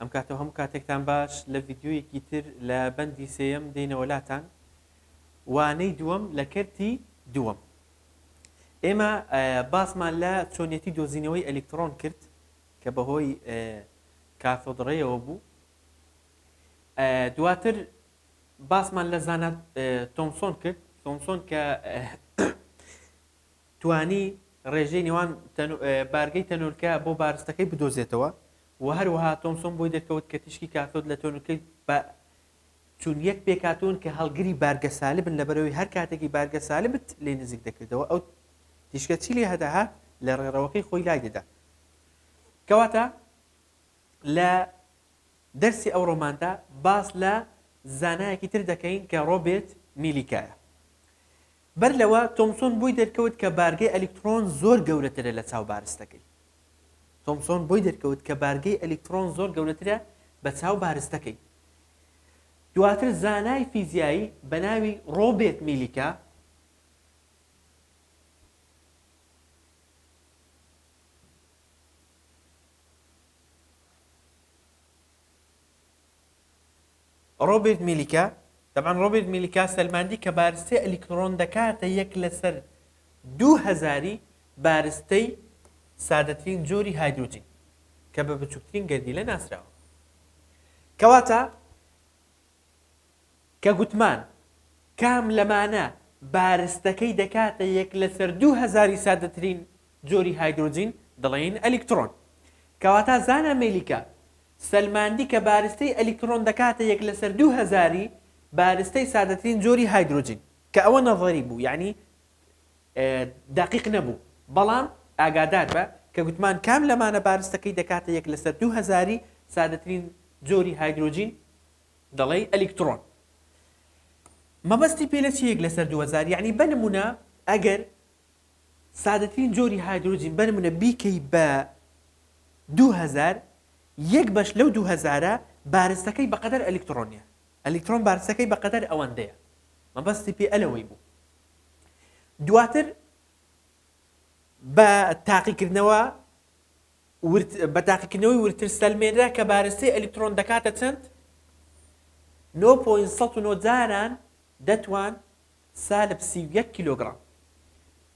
ئەم کاتەو هەموو کاتێکتان باش لە ڤیدیۆیەکی تر لە بەندی سێیەم دێینەوە لاتان وانەی دووەم لە کەرتی دووەم ئێمە باسمان لە چۆنیەتی دۆزینەوەی ئەلیکترۆن کرد کە بەهۆی کاتۆدڕێەوە بوو دواتر باسمان لە زانات تۆمسۆن کرد تۆمسۆن کە توانی ڕێژەی نێوان بارگەی تەنۆلکە بۆ بارستەکەی بدۆزێتەوە و هەروەها تۆمسۆن بۆی دەرکەوت کە تیشکی کاثۆد لە تۆنلکەی با چون یەک پێکهاتوون کە هەڵگری بارگە سالبن لەبەرەوەی هەر کاتێکی بارگە سالبت لێ نزیک دەکردەوە ئەو تیشکە چی لێ هەدەهات لە ڕێڕەوەکەی خۆی لای دەدا کەواتە لە دەرسی ئەو ڕۆماندا باس لە زانایەکی تر دەکەین کە ڕۆبێت میلیکایە بەر لەوە، تۆمسۆن بۆی دەرکەوت کە بارگەی ئەلیکتڕۆن زۆر گەورەترە لە چاو بارستەکەی. تۆمسۆن بۆی دەرکەوت کە بارگەی ئەلیکتڕۆن زۆر گەورەترە بە چاو بارستەکەی. دواتر زانای فیزیایی بە ناوی ڕۆبێت میلیکا، ڕۆبێرت میلیکا، تەبعەن ڕۆبێرت میلیکا سەلماندی کە بارستەی ئەلیکتڕۆن دەکاتە یەک لەسەر دوو هەزاری بارستەی سادەترین جۆری هایدرۆجین کە بە بچووکترین گەردیلە ناسراوە. کەواتە کە گوتمان کام لەمانە بارستەکەی دەکاتە یەک لەسەر دوو هەزاری سادەترین جۆری هایدرۆجین دەڵێین ئەلیکتڕۆن. کەواتە زانا میلیکا سەلماندی کە بارستەی ئەلیکترۆن دەکاتە یەک لەسەر دوو هەزاری بارستەی سادەترین جۆری هایدرۆجین، کە ئەوە نەزەری بوو یانی دەقیق نەبوو، بەڵام ئاگادار بە کە گوتمان کام لەمانە بارستەکەی دەکاتە یەک لەسەر دوو هەزاری سادەترین جۆری هایدرۆجین دەڵێی ئەلیکترۆن مەبەستی پێ لە چ یەک لەسەر دوو هەزار یانی بە نمونە ئەگەر سادەترین جۆری هایدرۆجین بەرمنە بیکەی بە دوو هەزار یەک بەش لەو دوو هەزارە بارستەکەی بەقەدەر ئەلیکترۆنیە ئەلیکترۆن بارستەکەی بەقەدەر ئەوەندەیە مەبەستی پێ ئەلەوەی بوو دواتر بە تاقیکردنەوە بە تاقیکردنەوەی ورتر سەلمێنرا کە بارستەی ئەلیکترۆن دەکاتە چەند 9.9 جاران دەتوان سالب سی و یەک کیلۆگڕام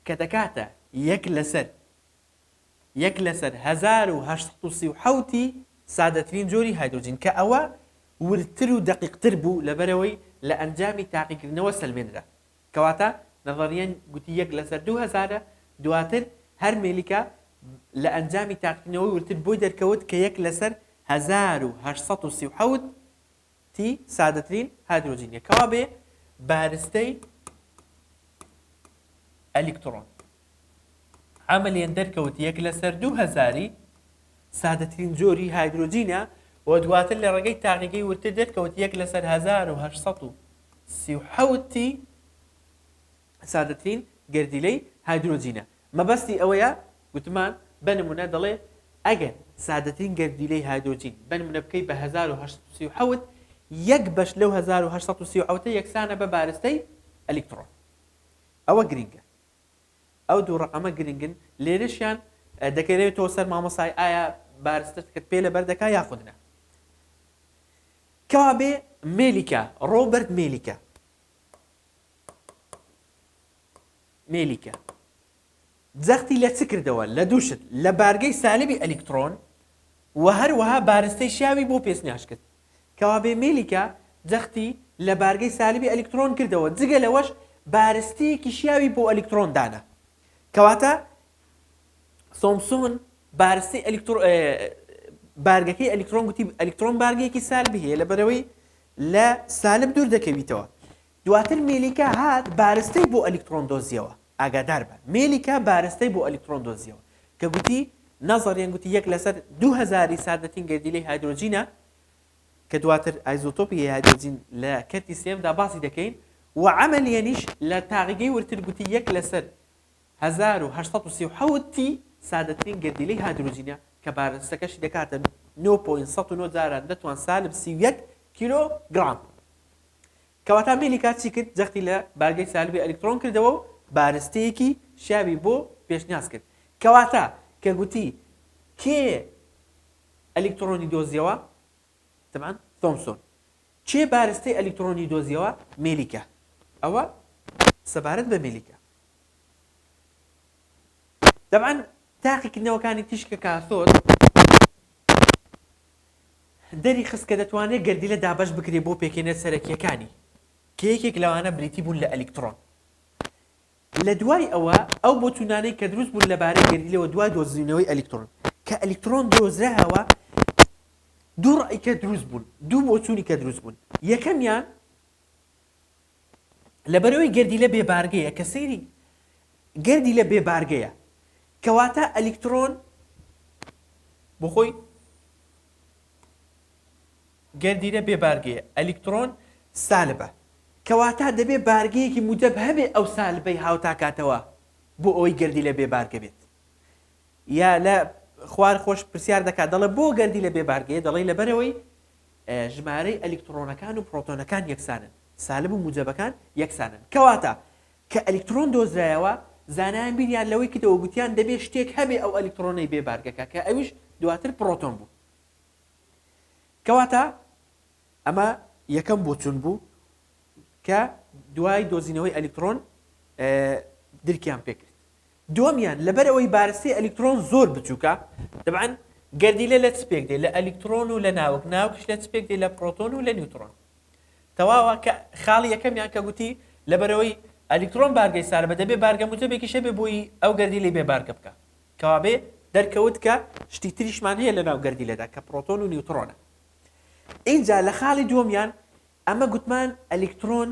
کە دەکاتە یەک لەسەر یەک لەسەر هەزار و هەشت سەد و سی و حەوت ی سادەترین جۆری هایدرۆجین کە ئەوە وردتر و دەقیقتر بوو لەبەرئەوەی لە ئەنجامی تاقیکردنەوە سەلمێنرا کەواتە نەزەریەن گوتی یەک لەسەر دوو هەزارە دواتر هەر مێلیکا لە ئەنجامی تاقیکردنەوەی وردتر بۆی دەرکەوت کە یەک لەسەر هەزار و هەشت سەد و سی و حەوت تی سادەترین هایدرۆجینە کەوا بێ بارستەی ئەلیکترۆن عملیان دەرکەوت یەک لەسەر دوو هەزاری سادەترین جۆری هایدرۆجینە و دواتر لە ڕێگەی تاقیگەی ورتر دەرکەوت یەک لەسەر 1930 تی سادەترین گەردیلەی هایدرۆجینە. مەبەستی ئەوەیە گوتمان بە نموونە دەڵێ ئەگەر سادەترین گەردیلەی هایدرۆجین بە نموونە بکەی بە هەزار و هەشت سەد و سی و حەوت، یەک بەش لەو هەزار و هەشت سەد و سی و حەوتە یەکسانە بە بارستەی ئەلیکتڕۆن. ئەوە گرینگە. ئەو دوو ڕەقەمە گرنگن. لێرەشیان دەکەوێتەوە سەر مامۆستای ئایا بارستەکەت پێ لەبەر دەکا یاخود نا. کەوابێ مێلیکا، ڕۆبەرت مێلیکا، مێلیکە جەختی لە چ کردەوە لە دوو شت لە بارگەی سالبی ئەلیکترۆن و هەروەها بارستەی شیاوی بۆ پێشنیاش کرد کەوابێ مێلیکە جەختی لە بارگەی سالبی ئەلیکترۆن کردەوە جگە لەوەش بارستەیەکی شیاوی بۆ ئەلیکترۆن دانا کەواتە سۆمسۆن بارستەی ئەلیکترۆ بارگەکەی ئەلیکترۆن گوتی ئەلیکترۆن بارگەیەکی سالبی هەیە لە بەرەوەی لە سالب دوور دەکەویتەوە دواتر مێلیکا هات بارستەی بۆ ئەلیکتڕۆن دۆزیەوە، ئاگادار بە، مێلیکا بارستەی بۆ ئەلیکتڕۆن دۆزیەوە، کە گوتی، نەزەڕیەن گوتی یەک لەسەر دوو هەزاری ساردەتین گەردیلەی هایدرۆجینە، کە دواتر ئایزۆتۆپی هایدرۆجین لە کەرتی سێیەمدا باسی دەکەین، و عەمەلیەنیش لە تاقیگەی ورتر گوتی یەک لەسەر هەزار و هەشت سەد و سی و حەوت تی ساردەترین گەردیلەی هایدرۆجینە، کە بارستەکەشی دەکاتە نۆ پۆینت سەد و نۆ جاران نەتوان سالب سی و یەک کیلۆ گڕام. کەواتە میلیکا چی کرد؟ جەختی لە بارگەی سالبی ئەلیکترۆن کردەوە و بارستەیەکی شیاوی بۆ پێشنیاز کرد. کەواتە کە گوتی کێ ئەلیکترۆنی دۆزیەوە؟ تەبعەن تۆمسۆن. کێ بارستەی ئەلیکترۆنی دۆزیەوە؟ میلیکا. ئەوە سەبارەت بە میلیکا. تەبعەن تاقیکردنەوەکانی تیشکە کاسۆد دەریخست کە دەتوانرێت گەردیلە دابەش بکرێت بۆ پێکهێنەر سەرەکییەکانی، کە یەکێک لەوانە بریتی بوون لە ئەلیکترۆن. لە دوای ئەوە، ئەو بۆچوونانەی کە دروست بوون لەبارەی گەردیلەوە دوای دۆزینەوەی ئەلیکترۆن، کە ئەلیکترۆن دۆزراوە، دوو ڕای کە دروست بوون، دوو بۆچوونی کە دروست بوون، یەکەمیان، لەبەرئەوەی گەردیلە بێ بارگەیە کە سەیری گەردیلە بێ بارگەیە کەواتە ئەلیکترۆن بۆخۆی گەردیلە بێ بارگەیە ئەلیکترۆن سالبە کەواتە دەبێ بارگەیەکی موجەب هەبێ ئەو سالبەی هاوتاکاتەوە بۆ ئەوەی گەردیلە بێ بارگە بێت یا لە خوار خۆش پرسیار دەکات دەڵێ بۆ گەردی لە بێ بارگەیە دەڵێی لەبەرەوەی ژمارەی ئەلیکترۆنەکان و پرۆتۆنەکان یەکسانن سالب و موجەبەکان یەکسانن کەواتە کە ئەلیکترۆن دۆزرایەوە زانایان بیریان لەوەی کردەوە گوتیان دەبێ شتێک هەبێ ئەو ئەلیکترۆنەی بێ بارگەکە کە ئەویش دواتر پرۆتۆن بوو کەواتە ئەمە یەکەم بۆچون بوو کە دوای دۆزینەوەی ئەلیکترۆن درکیان پێکرد دووەمیان، لەبەرئەوەی بارستەی ئەلیکترۆن زۆر بچووکە، تەبعەن گەردیلە لە چ پێک دێ؟ لە ئەلیکترۆن و لە ناوک، ناوکیش لە چ پێک دێ؟ لە پرۆتۆن و لە نیوترۆن. تەواوە، کە خاڵی یەکەمیان کە گوتی، لەبەرئەوەی ئەلیکترۆن بارگەی ساربە، دەبێ بارگە موجەبێکیش هەبێ بۆی ئەو گەردیلەی بێ بارگە بکا. کەوابێ دەرکەوت کە شتی تریشمان هەیە لەناو گەردیلەدا کە پرۆتۆن و نیوترۆنە. ئینجا لە خاڵی دووەمیان ئەمە گوتمان ئەلیکترۆن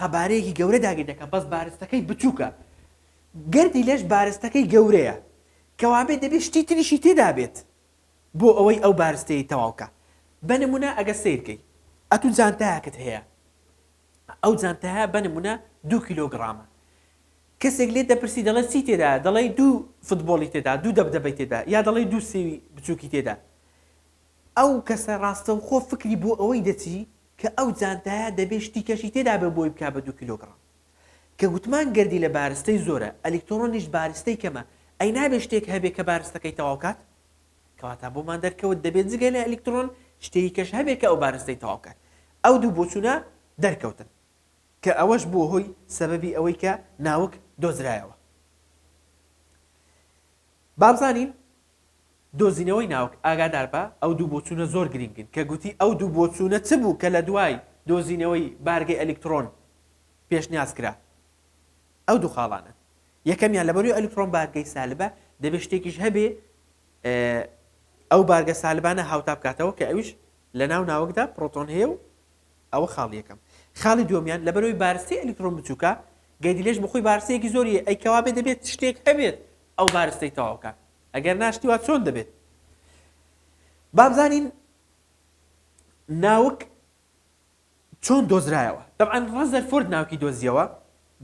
قەبارەیەکی گەورە داگیر دەکات بەس بارستەکەی بچووکە گەردی لەش بارستەکەی گەورەیە کەوابێت دەبێت شتی تریشی تێدابێت بۆ ئەوەی ئەو بارستەی تەواوکە بە نمونە ئەگە سیرکەی ئەتو جانتایەکت هەیە ئەو جانتایە بە نمونە دو کیلۆگرامە کەسێک لێ دەپرسی دەڵێت چی تێدا دەڵێ دوو فوتبۆڵی تێدا دوو دەبدەبەی تێدا یا دەڵێ دوو سێوی بچووکی تێدا ئەو کەسە ڕاستەوخۆ فکری بۆ ئەوەی دەچی کە ئەو جانتایە دەبێ شتی کەشی تێدا بێ بۆی بکا بە دوو کیلۆگڕام. کە گوتمان گەردی لە بارستەی زۆرە، ئەلیکترۆنیش بارستەی کەمە، ئەی نابێ شتێک هەبێ کە بارستەکەی تەواو کات؟ کەواتە بۆمان دەرکەوت دەبێ جگە لە ئەلیکترۆن شتێی کەش هەبێ کە ئەو بارستەی تەواو کات. ئەو دوو بۆچوونە دەرکەوتن. کە ئەوەش بووە هۆی سەبەبی ئەوەی کە ناوک دۆزرایەوە. بابزانین. دۆزینەوەی ناوک، ئاگاداربە ئەو دوو بۆچوونە زۆر گرینگن کە گوتی ئەو دوو بۆچوونە چ بوو کە لە دوای دۆزینەوەی بارگەی ئەلیکتڕۆن پێشنیاز کرا؟ ئەو دوو خاڵانە یەکەمیان لەبەروی ئەلیکتڕۆن بارگەی سالبە دەبێ شتێکیش هەبێ ئەو بارگە سالبانە هاوتا بکاتەوە کە ئەویش لە ناو ناوکدا پڕۆتۆن هەیە و ئەوە خاڵی یەکەم خاڵی دومیان لەبەروی بارستی ئەلیکتڕۆن بچووکە گەیدی لێش بخۆی بارسەیەکی زۆریە ئەی کەوابێ دەبێت شتێک هەبێت ئەو بارستەی تەواوکات ئەگەر ناشتی وا چۆن دەبێت بابزانین ناوک چۆن دۆزرایەوە دەبعاان ڕزەر فۆرد ناوکی دۆزیەوە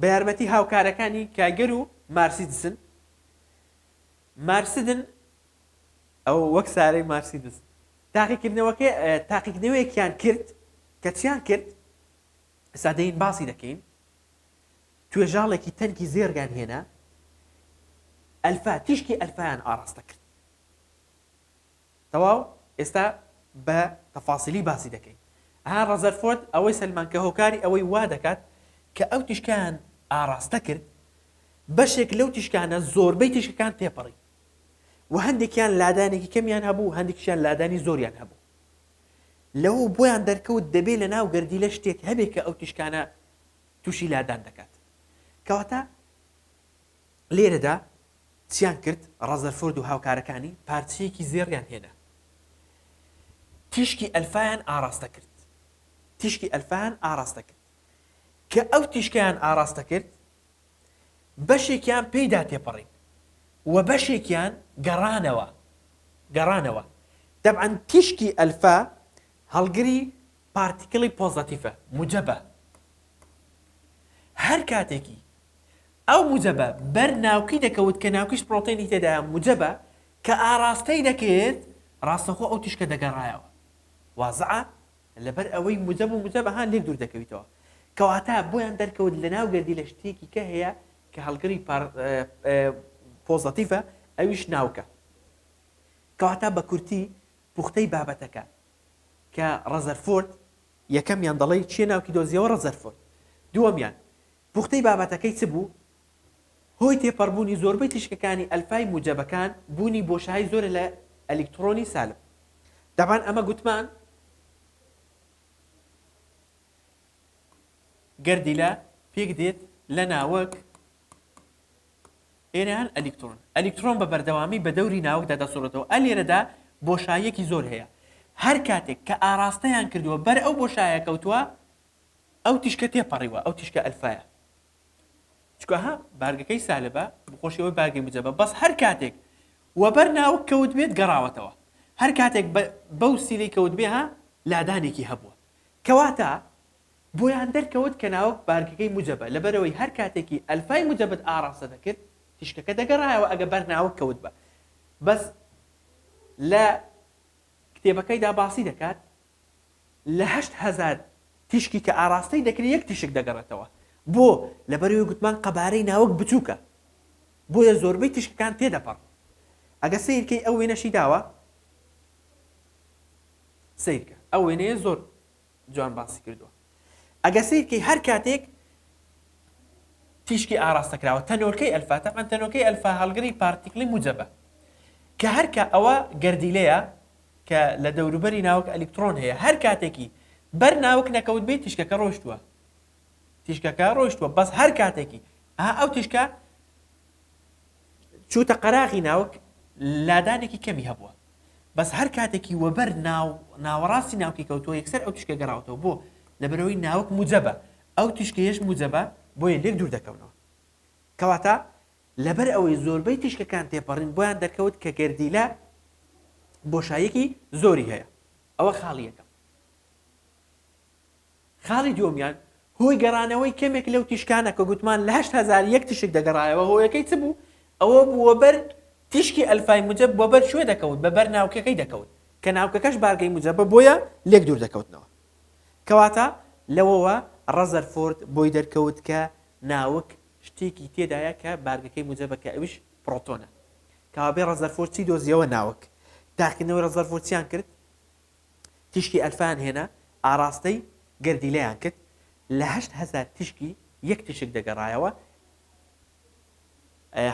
بە یارمەتی هاوکارەکانی کایگەر و مارسیدسن مارسدن ئەو وەک سارەی مارسیدس تاقیکردنەوەکە تاقیکردنەوەیەکیان کرد کە چیان کرد سادەین باسی دەکەین توێژاڵێکی تەنکی زێڕیان هێنا ئەلفا تیشکی ئەلفایان ئاڕاستە کرد تەواو ئێستا بە تەفاسیلی باسی دەکەین ها ڕەزەرفۆرد ئەوەی سەلمان کە هۆکاری ئەوەی وا دەکات کە ئەو تیشکیان ئاڕاستە کرد بەشێک لەو تیشکانە زۆربەی تیشکەکان تێپەڕی و هەندێکیان لادانێکی کەمیان هەبوو هەندێکیان لادانی زۆریان هەبوو لەو بۆیان دەرکەوت دەبێت لە ناو گەردیلە شتێک هەبێت کە ئەو تیشکانە تووشی لادان دەکات کەواتە لێرەدا چیان کرد ڕەزەرفۆرد و هاوکارەکانی پارچەیەکی زێڕیان هێنا تیشکی ئەلفایان ئاراستە کرد تیشکی ئەلفان ئاراستە کرد کە ئەو تیشکیان ئاراستە کرد بەشێکیان پێیدا تێپەڕین و بەشێکیان گەڕانەوە گەڕانەوە دەبعەن تیشکی ئەلفا هەڵگری پارتیکڵی پۆزەتیفە موجەبە هەر کاتێکی ئەو موجەبە بەر ناوکی دەکەوت کە ناوکیش پرۆتێنی تێدایە موجەبە کە ئاراستەی دەکرد ڕاستەخۆ ئەو تیشکە دەگەڕایەوە وازعە لەبەر ئەوەی موجەب و موجەبە هان لێک دوور دەکەویتەوە کەواتە بۆیان دەرکەوت لە ناو گردی لە شتێکی کە هەیە کە هەڵگری پۆزەتیفە ئەویش ناوکە کەواتە بە کورتی پوختەی بابەتەکە کە ڕەزەرفۆرد یەکەمیان دەڵێی چیە ناوکی دۆزیەوە ڕەزەرفۆرد دووەمیان پوختەی بابەتەکەی چ بوو هۆی تێپەڕبوونی زۆربەی تیشکەکانی ئەلفای موجەبەکان بوونی بۆشایی زۆرە لە ئەلیکتڕۆنی سالب دەبان ئەمە گوتمان گەردیلە پێک دێت لە ناوەک ئێران، ئەلیکترۆن ئەلیکترۆن بە بەردەوامی بە دەوری ناوکدا دەسوڕێتەوە، ئە لێرەدا بۆشاییەکی زۆر هەیە، هەر کاتێک کە ئاڕاستەیان کردووە بەر ئەو بۆشایە کەوتووە، ئەو تیشکە تێپەڕیوە، ئەو تیشکە ئەلفایە، چونکە ها بارگەکەی سالبە، بەخۆشی ئەوەی بارگەی موجەبە، بەس هەر کاتێک وەبەر ناوک کەوتبێت گەڕاوەتەوە، هەر کاتێک بەو سیلەی کەوتبێ ها لادانێکی هەبووە، کەواتە بۆیان دەرکەوت کە ناوک بارگەکەی موجەبە لەبەرئەوەی هەر کاتێکی ئەلفای موجەبت ئاڕاستە دەکرد تیشکەکە دەگەڕایەوە ئەگە بەر ناوک کەوتبا بەس لە کتێبەکەیدا باسی دەکات لە هەشت هەزار تیشکی کە ئاڕاستەی دەکرێت یەک تیشک دەگەڕێتەوە بۆ لەبەرەوەی گوتمان قەبارەی ناوک بچووکە بۆیە زۆربەی تیشکەکان تێدەپەڕن ئەگە سیرکەی ئەو وێنەشی داوە سیرکە ئەو وێنەیە زۆر جوان باسی کردووە ئەگە سیر کەی هەر کاتێک تیشکی ئاراستە کراوە تەنۆلکەی ئەلفا تەمان تەنۆلکەی ئەلفا هەڵگری پارتیکلی موجەبە کە هەرکە ئەوە گردیلەیە کە لە دەوروبەری ناوک ئەلیکترۆن هەیە هەر کاتێکی بەر ناوک نەکەوت بێت تیشکەکە ڕۆشتووە تیشکەکە ڕۆشتووە بەس هەر کاتێکی ئا ئەو تیشکە چووتە قەراغی ناوک لادانێکی کەمی هەبووە بەس هەر کاتێکی وەبەر ناو ناوەڕاستی ناوکی کەوتووە یەکسەر ئەو تیشکە گەڕاوتەوە بۆ لەبەرەوەی ناوک موجەبە ئەو تیشکەیەش موجەبە بۆیە لێک دوور دەکەونەوە کەواتە لەبەر ئەوەی زۆربەی تیشکەکان تێپەڕین بۆیان دەرکەوت کە گەردیلە بۆشایەکی زۆری هەیە ئەوە خاڵی یەکەم خاڵی دووەمیان هۆی گەڕانەوەی کەمێک لەو تیشکانە کە گوتمان لە هەشت هەزار یەک تیشک دەگەڕایەوە هۆیەکەی چ بوو ئەوە بوو وەبەر تیشکی ئەلفای موجەب وەبەر کوێ دەکەوت بە بەر ناوکەکەی دەکەوت کە ناوکەکەش بارگەی موجەبە بۆیە لێک دوور دەکەوتنەوە کەواتە لەوەوە ڕەزەرفۆرد بۆی دەرکەوت کە ناوک شتێکی تێدایە کە بارگەکەی موجەبە کە ئەویش پڕۆتۆنە کەوابێ ڕەزەرفۆرد چی دۆزیەوە ناوک تاقیکردنەوەی ڕەزەرفۆرد چیان کرد تیشکی ئەلفایان هێنا، ئاڕاستەی گەردیلەیان کرد، لە هەشت هەزار تیشکی یەک تیشک دەگەڕایەوە،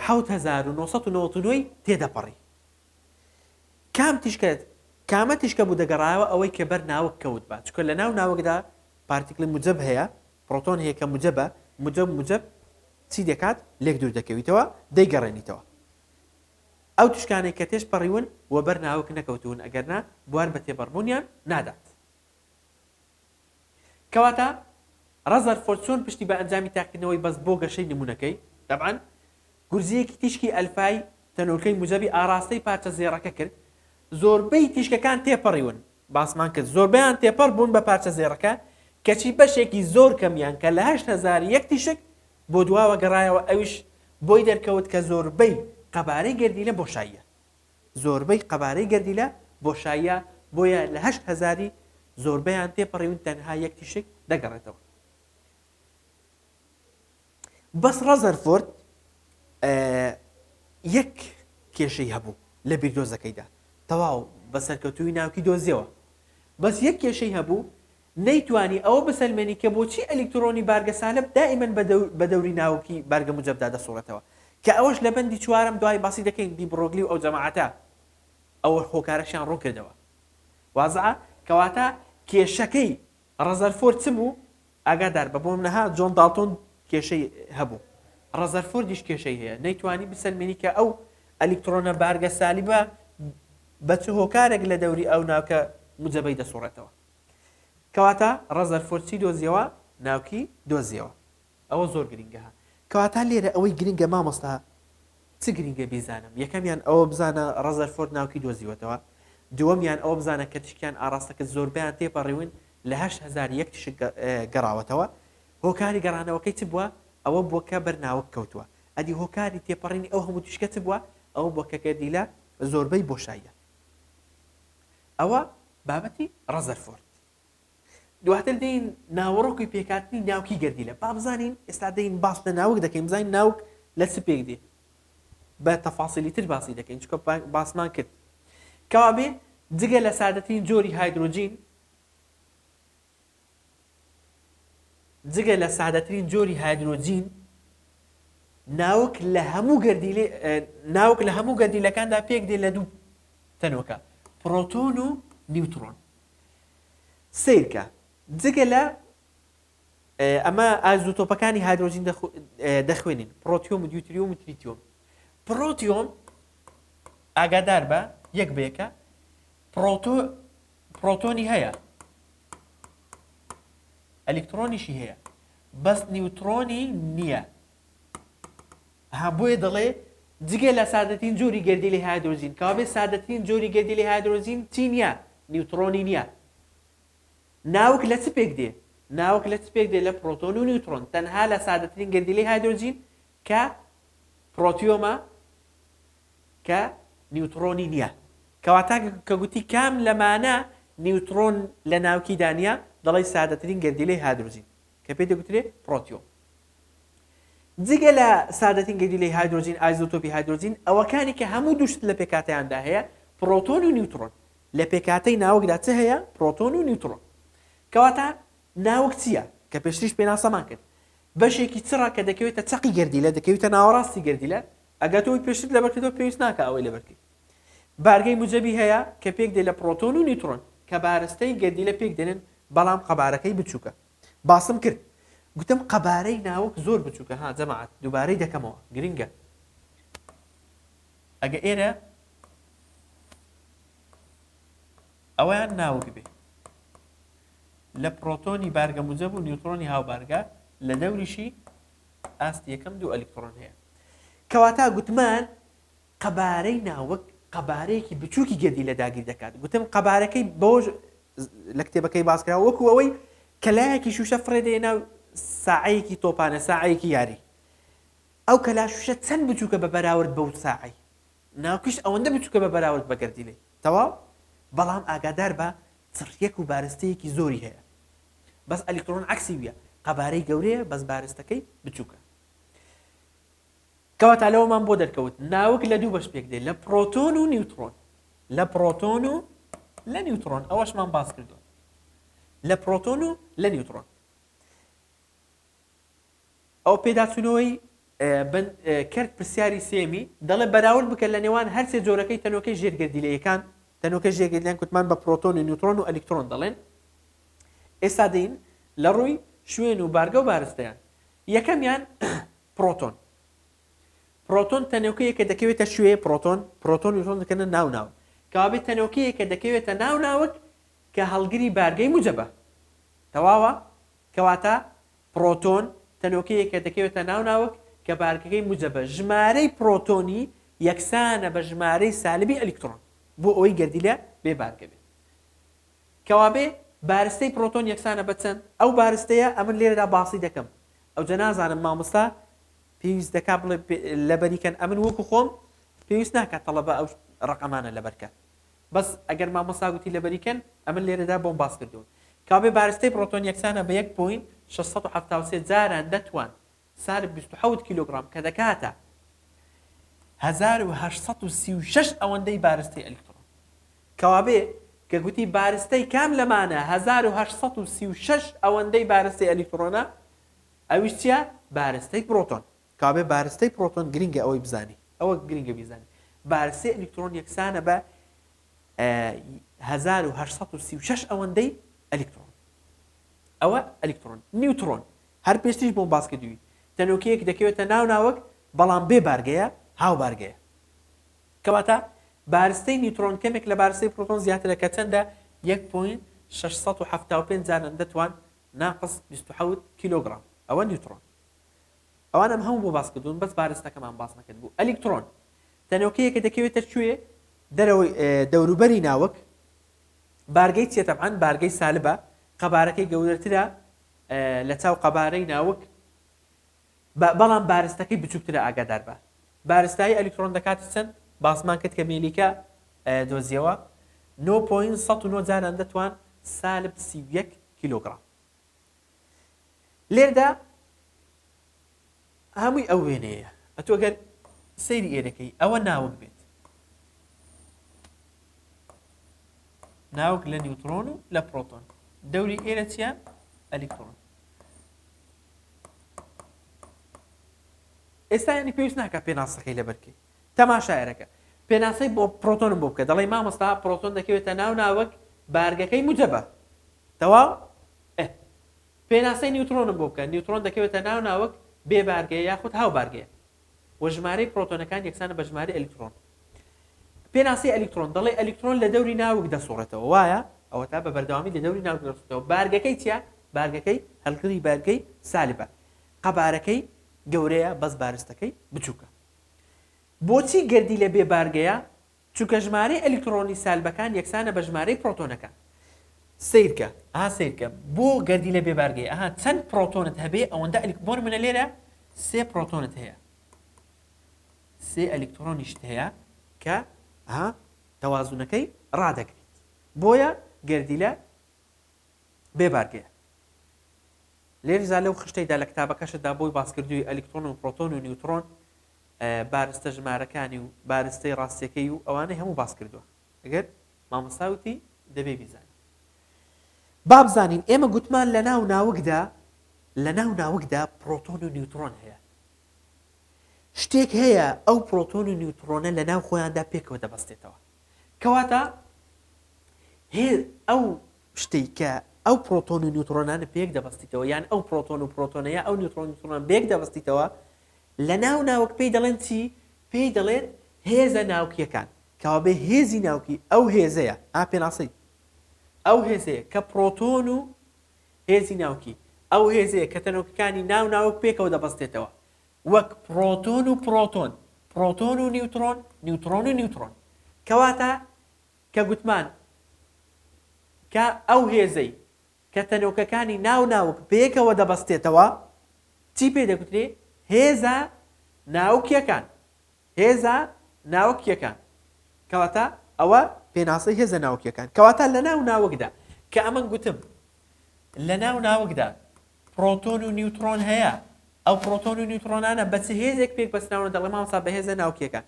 حەوت هەزار و نۆ سەد و نەوەد و نۆ ی تێدەپەڕی. کام تیشکە، کامە تیشکە بوو دەگەڕایەوە ئەوەی کە بەر ناوک کەوتبا، چونکە لە ناو ناوکدا پارتیکڵی موجەب هەیە، پڕۆتۆن هەیە کە موجەبە، موجەب موجەب چی دەکات؟ لێک دوور دەکەویتەوە، دەیگەڕێنیتەوە. ئەو تیشکانەی کە تێش پەڕیون و بەر ناوک نەکەوتوون ئەگەرنا بوار بە تێبەڕبوونیان نادات. کەواتە ڕەزەرفۆرد چۆن پشتی بە ئەنجامی تاقیکردنەوەی بەست بۆ گەشەی نموونەکەی؟ تەبعەن گورزییەکی تیشکی ئەلفای تەنۆلکەی موجەبی ئاڕاستەی پارچە زێڕەکە کرد، زۆربەی تیشکەکان تێپەڕیون، باسمان کرد زۆربەیان تێپەڕ بوون بە پارچە زێڕەکە کەچی بەشێکی زۆر کەمیان کە لە هەشت هەزار یەک تیشک بۆ دواوە گەڕایەوە ئەویش بۆی دەرکەوت کە زۆربەی قەبارەی گەردیلە بۆشاییە زۆربەی قەبارەی گەردیلە بۆشاییە بۆیە لە هەشت هەزاری زۆربەیان تێپەڕیون تەنها یەک تیشک دەگەڕێتەوە بەس ڕەزەرفۆرد یەک کێشەی هەبوو لە بیردۆزەکەیدا تەواو بە سەرکەوتووی ناوکی دۆزیەوە بەس یەک کێشەی هەبوو نەیتوانی ئەوە بسەلمێنی کە بۆچی ئەلیکترۆنی بارگە سالب دائیمەن بە دەوری ناوکی بارگە موجەبدا دەسوڕێتەوە کە ئەوەش لە بەندی چوارەم دوای باسی دەکەین دی برۆگلی و ئەو جەماعەتە ئەوە هۆکارەشیان ڕوون کردەوە وازە کەواتە کێشەکەی ڕەزەرفۆرد چ بوو ئاگادار بە بۆم نەها جۆن داڵتۆن کێشەی هەبوو ڕەزەرفۆردیش کێشەی هەیە نەیتوانی بسەلمێنی کە ئەو ئەلیکترۆنە بارگە سالیبە بە چ هۆکارێک لە دەوری ئەو ناوکە موجەبەی دەسوڕێتەوە کەواتە ڕەزەرفۆرد چی دۆزیەوە ناوکی دۆزیەوە ئەوە زۆر گرینگە ها کەواتە لێرە ئەوەی گرینگە مامۆستا چ گرینگە بیزانم یەکەمیان ئەوە بزانە ڕەزەرفۆرد ناوکی دۆزیوەتەوە دووەمیان ئەوە بزانە کە تشکیان ئاراستە کرد زۆربیان تێپەڕیون لە هەشت هەزار یەک تشک گەڕاوەتەوە هۆکاری گەڕانەوەکەی چ بووە ئەوە بووە کە بەرناوک کەوتووە ئەدی هۆکاری تێپەڕینی ئەو هەموو تشکە چ بووە ئەوە بووە کە گەردیلە زۆربەی بۆشاییە ئەوە بابەتی ڕەزەرفۆرد. دواتر دێین ناوەڕۆکی پێکهاتنی ناوکی گەردیلە. با بزانین ئێستا دێین باس لە ناوک دەکەین بزانین ناوک لە چ پێک دێ. بە تەفاسیلی تر باسی دەکەین چونکە باسمان کرد. کەوابێ جگە لە سادەترین جۆری هایدرۆجین جگە لە سادەترین جۆری هایدرۆجین ناوک لە هەموو گەردیلی ناوک لە هەموو گەردیلەکاندا پێک دێ لە دوو تەنۆکە پرۆتۆن و نیوترۆن سیرکە جگە لە ئەمە ئازو تۆپەکانی هایدرۆجین دەخوێنین پرۆتیۆم و دیوتریۆم و تریتیۆم پرۆتیۆم ئاگادار بە یەک بێکە پرۆتۆ پرۆتۆنی هەیە ئەلیکترۆنیشی هەیە بەس نیوترۆنی نییە ها بۆیە دەڵێ جگە لە سادەترین جۆری گردی لە هایدرۆجین کاوێ سادەترین جۆری گردی لە هایدرۆجین چی نییە نیوترۆنی نییە ناوک لە چ پێک دێ ناوک لە چ پێک دێ لە پرۆتۆن و نیوترۆن تەنها لە سادەترین گردیلی هایدرۆجین کە پرۆتیۆمە کە نیوتڕۆنی نییە. کەواتە کە گوتی کام لەمانە نیوتڕۆن لە ناوکیدا نییە، دەڵێی سادەترین گەردیلەی هایدرۆجین کە پێی دەگوترێ پرۆتیۆن. جگە لە سادەترین گەردیلەی هایدرۆجین، ئایزۆتۆپی هایدرۆجین ئەوەکانی کە هەموو دوو شت لە پێکهاتەیاندا هەیە، پرۆتۆن و نیوتڕۆن. لە پێکهاتەی ناوکدا چ هەیە؟ پرۆتۆن و نیوتڕۆن. کەواتە ناوک چییە؟ کە پێشتریش پێناسەمان کرد، بەشێکی چڕە کە دەکەوێتە چەقی گەردیلە، دەکەویتە ناوەڕاستی گەردیلە، ئەگەر تۆ ئەوی پێشترت لەبەر کردەوە پێویست ناکە ئەوەی لەبەر کرد بارگەی موجەبی هەیە کە پێک دێ لە پرۆتۆن و نیوترۆن کە بارستەی گەردی لە پێک دێنن بەڵام قەبارەکەی بچووکە باسم کرد گوتم قەبارەی ناوک زۆر بچووکە ها جەماعات دووبارەی دەکەمەوە گرنگە ئەگە ئێرە ئەویان ناوک بێ لە پرۆتۆنی بارگە موجەب و نیوترۆنی هاوبارگە لە دەوریشی ئاستی یەکەم دوو ئەلیکتڕۆن هەیە. کەواتە گوتمان قەبارەی ناوک قەبارەیەکی بچووکی گەردی لە داگیر دەکات گوتم قەبارەکەی بۆش لە کتێبەکەی باسکرا وەکو ئەوەی کەلایەکی شوشە فڕێ دێ ناو ساعەیەکی تۆپانە ساعەیەکی یاری ئەو کەلا شوشە چەند بچووکە بە بەراورد بەو ساعی ناوکیش ئەوەندە بچووکە بە بەراورد بە گەردیلەی تەواو بەڵام ئاگادار بە چڕیەک و بارستەیەکی زۆری هەیە بەس ئەلیکترۆن عەکسی ویە قەبارەی گەورەیە بەس بارستەکەی بچوکە کەواتە لەوەمان بۆ دەرکەوت ناوک لە دوو بەش پێک دێ لە پرۆتۆن و نیوترۆن لە پرۆتۆن و لە نیوترۆن ئەوەشمان باس کردو لە پرۆتۆن و لە نیوترۆن ئەو پێداچوونەوەی بن کەرت پرسیاری سێمی دەڵێ بەراورد بکە لە نێوان هەرسێ جۆرەکەی تەنۆکەی ژێرگەردیلەیەکان تەنۆکەی ژێگەردیلەیان کوتمان بە پرۆتۆن و نیوترۆن و ئەلیکترۆن دەڵێن ئێستا دین لە ڕووی شوێن و بارگە و بارستەیان یەکەمیان پرۆتۆن پرۆتۆن تەنۆکەیە کە دەکەوێتە شوێ پرۆتۆن پرۆتۆن نیوترۆن دەکەنە ناو ناو کەوابێت تەنۆکەیە کە دەکەوێتە ناو ناوک کە هەڵگری بارگەی موجەبە تەواوە کەواتە پڕۆتۆن تەنۆکەیەکە دەکەوێتە ناو ناوک کە بارگەکەی موجەبە، ژمارەی پڕۆتۆنی یەکسانە بە ژمارەی سالبی ئەلیکتڕۆن، بۆ ئەوەی گەردیلە بێ بارگە بێت. کەوابێ بارستەی پڕۆتۆن یەکسانە بە چەند؟ ئەو بارستەیە ئەمن لێرەدا باسی دەکەم، ئەوجە نازانم مامۆستا پێویست دەکات بڵێ لەبەری کەن، ئەمن وەکو خۆم پێویست ناکات تەڵەبە ئەو ڕەقەمانە لەبەر کەن، بەس ئەگەر مامۆستا گوتی لەبەری کەن ئەمن لێرەدا بۆم باس کردوون کاوێ بارستەی پڕۆتۆن یەکسانە بە یەک پۆینت شەش سەد و حەفتا و سێ جاران دەتوان سالب بیست و حەوت کیلۆگڕام کە دەکاتە هەزار و هەشت سەد و سی و شەش ئەوەندەی بارستەی ئەلیکتڕۆن کەوابێ کە گوتی بارستەی کام لەمانە هەزار و هەشت سەد و سی و شەش ئەوەندەی بارستەی ئەلیکتڕۆنە ئەویش چیە بارستەی پڕۆتۆن کابێ بارستەی پرۆتۆن گرینگە ئەوەی بزانی. ئەوە گرینگە بیزانی بارستەی ئەلیکترۆن یەکسانە بە هەزار و هەشت سەد و سی و شەش ئەوەندەی ئەلیکترۆن. ئەوە ئەلیکترۆن. نیوترۆن هەر پێشتریش بۆم باس کردووی تەنۆکەیەک دەکەوێتە ناو ناوەک بەڵام بێ بارگەیە، هاوبارگەیە. کەواتە بارستەی نیوترۆن کەمێک لە بارستەی پرۆتۆن زیاترە کە چەندە؟ یەک پۆینت شەش سەد و حەفتا و پێنج جارەندە توان ناقس بیست و حەوت کیلۆگرام. ئەوە نیوترۆن. ئەوان ئەم هەموو بۆ باس کردوون بەس بارستەکەمان باس نەکرد بوو ئەلیکترۆن تەنۆکەیەکە دەکەوێتە کوێ دەرەوەی دەوروبەری ناوک بارگەی چێ تەبان بارگەی سالبە قەبارەکەی گەورەترە لە چاو قەبارەی ناوک بەڵام بارستەکەی بچووکترە ئاگادار بە بارستایی ئەلیکترۆن دەکات چەند باسمان کرد کە مێلیکە دۆزیەوە 9.1 جاران دەتوان سالب 31 کیلوگرام لێردا هەمووی ئەو وێنەیە ئەتۆ گەر سەیری ئێرەکەی ئەوە ناوک بێت ناوک لە نیوترۆن و لە پرۆتۆن دەوری ئێرە چیە ئەلیکترۆن ئێستا ینی پێویست ناکە پێناسەکەی لەبەرکەی تەماشایەرەکە پێناسەی بۆ پرۆتۆنم بۆ بکە دەڵی مامۆستا پرۆتۆن دەکەوێتە ناو ناوک بارگەکەی مجەبە تەواو؟ ئه. پێناسەی نیوترۆنم بۆ بکە، نیوترۆن دەکەوێتە ناو ناوک بێ بارگەیە یاخود هاو بارگەیە. وە ژمارەی پرۆتۆنەکان یەکسانە بە ژمارەی ئەلیکترۆن. پێناسەی ئەلیکترۆن، دەڵێی ئەلیکترۆن لە دەوری ناوک دەسوڕێتەوە وایە؟ ئەوەتا بە بەردەوامی لە دەوری ناوک دەسوڕێتەوە. بارگەکەی چیە؟ بارگەکەی هەلگری بارگەی سالبە. قەبارەکەی گەورەیە بەس بارستەکەی بچوکە. بۆچی گەردیلە بێ بارگەیە؟ چونکە ژمارەی ئەلیکتڕۆنی سالبەکان یەکسانە بە ژمارەی پڕۆتۆنەکان. سەیرکە ئەها سەیرکە بۆ گەردیلە بێ بارگەی ئەها چەند پڕۆتۆنت هەبێ ئەوەندە ئەلیک بۆ نمونە لێرە سێ پڕۆتۆنت هەیە سێ ئەلیکتڕۆنیشت هەیە کە ئەها تەوازونەکەی ڕادەگریت بۆیە گەردیلە بێ بارگەیە لێرزا لەو خشتەیدا لە کتابەکەشدا بۆی باسکردووی ئەلیکترۆن و پرۆتۆن و نیوترۆن بارستە ژمارەکانی و بارستەی ڕاستیەکەی و ئەوانەی هەموو باس کردووە ئەگەر مامۆستا وتی دەبێ بیزانین بابزانین ئێمە گوتمان لە ناو ناوکدا لە ناو ناوکدا پرۆتۆن و نیوترۆن هەیە شتێک هەیە ئەو پرۆتۆن و نیوترۆنە لە ناو خۆیاندا پێکەوە دەبەستێتەوە کەواتە هێ ئەو شتێک کە ئەو پرۆتۆن و نیوترۆنانە پێک دەبەستیتەوە یان ئەو پرۆتۆن و پرۆتۆنەیە ئەو نیوترۆن نیوترۆنان بێک دەبەستیتەوە لە ناو ناوک پێی دەڵێن چی؟ پێی دەڵێن هێزە ناوکیەکان کەوابێ هێزی ناوکی ئەو هێزەیە ئا پێناسەی ئەو هێزەیە کە پرۆتۆن و هێزی ناوکی ئەو هێزەیە کە تەنۆکەکانی ناو ناوک پێکەوە دەبەستێتەوە وەک پرۆتۆن و پرۆتۆن پرۆتۆن و نیوترۆن نیوترۆن و نیوترۆن کەواتە کە گوتمان کە ئەو هێزەی کە تەنۆکەکانی ناو ناوک پێکەوە دەبەستێتەوە، چی پێ دەگوترێ؟ هێزە ناوکیەکان، هێزە ناوکیەکان، کەواتە ئەوە پێناسەی هێزە ناوکیەکان، کەواتە لە ناو ناوکدا، کە ئەمن گوتم لە ناو ناوکدا پرۆتۆن و نیوترۆن هەیە، ئەو پرۆتۆن و نیوترۆنانە بە چ هێزێک پێک بەستراونە دەڵێ مامۆستا بە هێزە ناوکیەکان،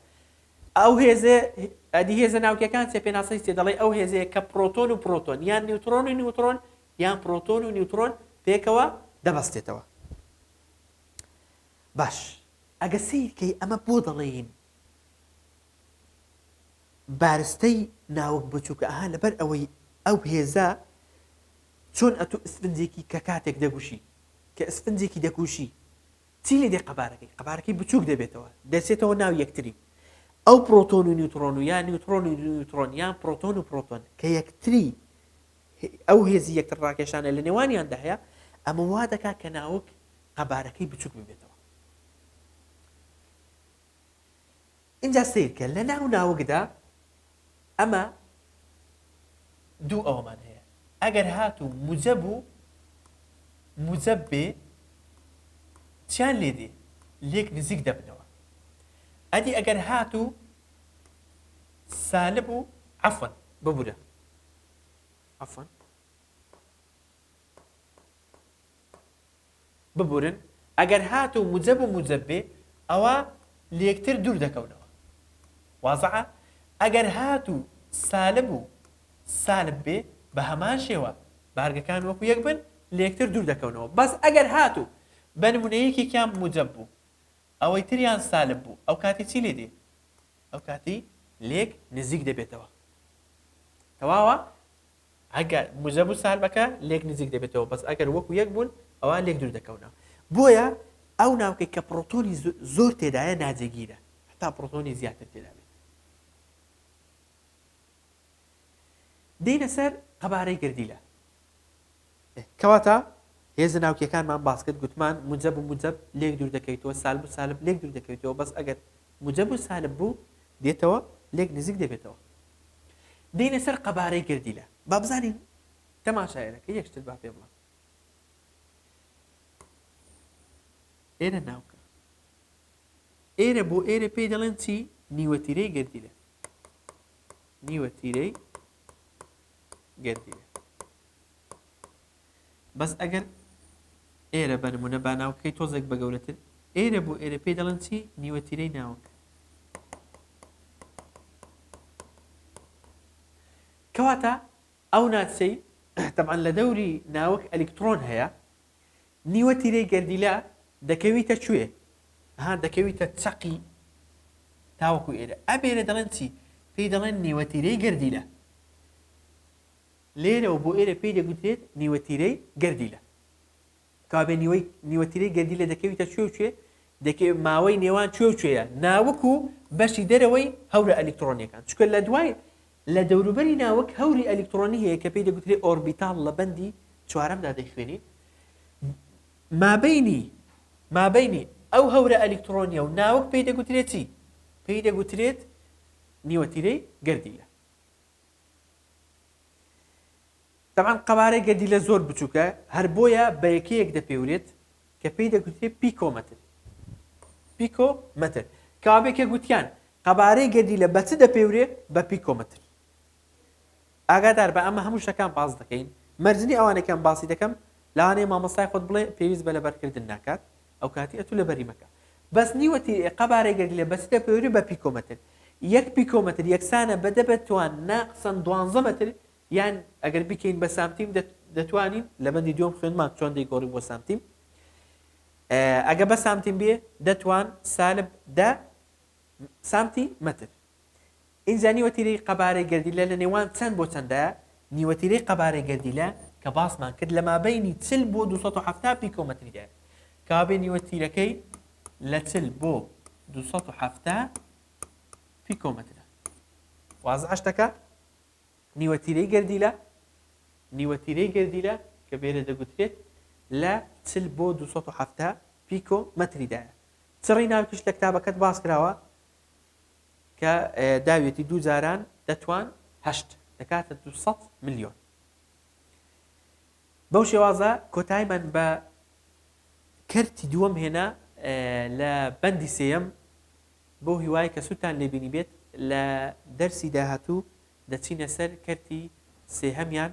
ئەو هێزە ئەدی هێزە ناوکیەکان چیە پێناسەی چیە دەڵێی ئەو هێزەیە کە پرۆتۆن و پرۆتۆن یان نیوترۆن و نیوترۆن یان پرۆتۆن و نیوترۆن پێکەوە دەبەستێتەوە باش ئەگە سیرکەی ئەمە بۆ دەڵێین بارستەی ناوک بچووکە ئەها لەبەر ئەوەی ئەو هێزە چۆن ئەتو ئسفنجێکی کە کاتێک دەگوشی کە ئسفنجێکی دەگوشی چی لێدێ قەبارەکەی؟ قەبارەکەی بچووک دەبێتەوە، دەچێتەوە ناو یەکتری. ئەو پرۆتۆن و نیوترۆن و یا نیوترۆن و نیوترۆن یان پرۆتۆن و پرۆتۆن کە یەکتری ئەو هێزی یەکتر ڕاکێشانە لە نێوانیاندا هەیە، ئەمە وا دەکات کە ناوک قەبارەکەی بچووک ببێتەوە. ئینجا سەیرکە لە ناو ناوکدا ئەمە دوو ئەوەمان هەیە ئەگەر هات و موجەب و موجەب بێ چیان لێ دێ لێک نزیک دەبنەوە ئەدی ئەگەر هات و سالب و عفن ببورە عفن ببورن ئەگەر هاتوو موجەب و موجەب بێ ئەوا لێکتر دوور دەکەونەوە وازحە ئەگەر هاتوو سالب و سالب بێ بە هەمان شێوە بارگەکان وەکو یەک بن لێکتر دوور دەکەونەوە بەس ئەگەر هاتوو بە نمونە یەکێکیان موجەب بوو ئەوەی تریان سالب بوو ئەو کاتی چی لێ دێ ئەو کاتی لێک نزیک دەبێتەوە تەواوە ئەگەر موجەب و سالبەکە لێک نزیک دەبێتەوە بەس ئەگەر وەکو یەک بوون ئەوا لێک دوور دەکەونەوە بۆیە ئەو ناوکەی کە پڕۆتۆنی زۆر تێدایە ناجێگیرە هەتا پڕۆتۆنی زیاتر تێدا بێت دێینە سەر قەبارەی گردیلە کەواتە هێزە ناوکیەکانمان باسکرد گوتمان مجەب و مجەب لێک دوور دەکەیتەوە سالب و سالب لێک دوور دەکەویتەوە بەس ئەگەر مجەب و سالب بوو دێتەوە لێک نزیک دەبێتەوە دێینە سەر قەبارەی گەردیلە با بزانین تەماشایەرەکە یەک شتت با پێ بڵێم ئێرە ناوکە ئێرە بۆ ئێرە پێی دەڵێن چی نیوەتیرەی گردیلە نیوەتیرەی گردیلە بەس ئەگەر ئێرە بە نمونە با ناوکەکەی تۆزێک بە گەورەتر ئێرە بۆ ئێرە پێی دەڵێن چی نیوە تیرەی ناوک کەواتە ئەو ناچەی تەبان لە دەوری ناوک ئەلیکترۆن هەیە نیوە تیرەی گەردیلا دەکەویتە کوێ ها دەکەویتە چەقی تاوەکو ئێرە ئەبێرە دەڵێن چی پێی دەڵێن نیوەتیرەی گردیلە لێرەوە بۆ ئێرە پێی دەگوترێت نیوەتیرەی گەردیلە. کابێ نیوەی نیوەتیرەی گەردیلە دەکەویتە کوێ و کوێ؟ دەکەوێ ماوەی نێوان کوێ و کوێیە ناوک و بەشی دەرەوەی هەورە ئەلیکتڕۆنییەکان، چونکە لە دوای لە دەوروبەری ناوک هەوری ئەلیکتڕۆنی هەیە کە پێی دەگوترێ ئۆربیتاڵ لە بەندی چوارەمدا دەیخوێنین مابەینی مابەینی ئەو هەورە ئەلیکتڕۆنیە و ناوک پێی دەگوترێ چی؟ پێی دەگوترێت نیوەتیرەی گەردیلە. تەبعەن قەبارەی گەردیلە زۆر بچووکە، هەر بۆیە بە یەکەیەک دەپێورێت کە پێی دەگوترێت پیکۆمەتر، Picometer، کەوابێکێ گوتیان قەبارەی گەردیلە بە چ دەپێورێ؟ بە پیکۆمەتر. ئاگادار بە ئەمە هەموو شتەکان باس دەکەین، مەرج نییە ئەوانەی کەم باسی دەکەم لەوانەیە مامۆستای خۆت بڵێ پێویست بە لەبەرکردن ناکات، ئەوکاتی ئەتو لەبەری مەکە بەس نیوە تیر ئێ قەبارەی گەرگ لە بەسیتە پێوری بە پیکۆمەتر یەک پیکۆمەتر یەکسانە بە دە بە توان نا قسەن دوانزە مەتر یان ئەگەر بیکەین بە سامتیم دە دەتوانین لە بەندی دووەم خوێندمان چۆن دەیگۆڕین بۆ سامتیم ئەگە بە سامتیم بێ دەتوان سالب دە سامتی مەتر ئینجا نیوەتیرەی قەبارەی گەردیلە لە نێوان چەند بۆ چەندە؟ نیوەتیرەی قەبارەی گەردیلە کە باسمان کرد لە مابەینی چل بۆ دوو سەد و حەفتا پیکۆمەتریدایە کەوابێ نیوەتیرەکەی لە چل بۆ دوو سەد و حەفتا پیکۆمەترە وازعە شتەکە نیوەتیرەی گەردیلە نیوەتیرەی گەردیلە کە بێرە دەگوترێت لە چل بۆ دوو سەد و حەفتا پیکۆمەتریدایە چڕی ناوکیش لە کتابەکەت باس کراوە کە داویەتی دوو جاران دەتوان هەشت دەکاتە دو سەد ملیۆن بەو شێوازە کۆتایمان بە کەرتی دووەم هێنا لە بەندی سێەم بۆ هیوای کە سووتان لێبینی بێت لە دەرسی داهاتوو دەچینە سەر کەرتی سێهەمیان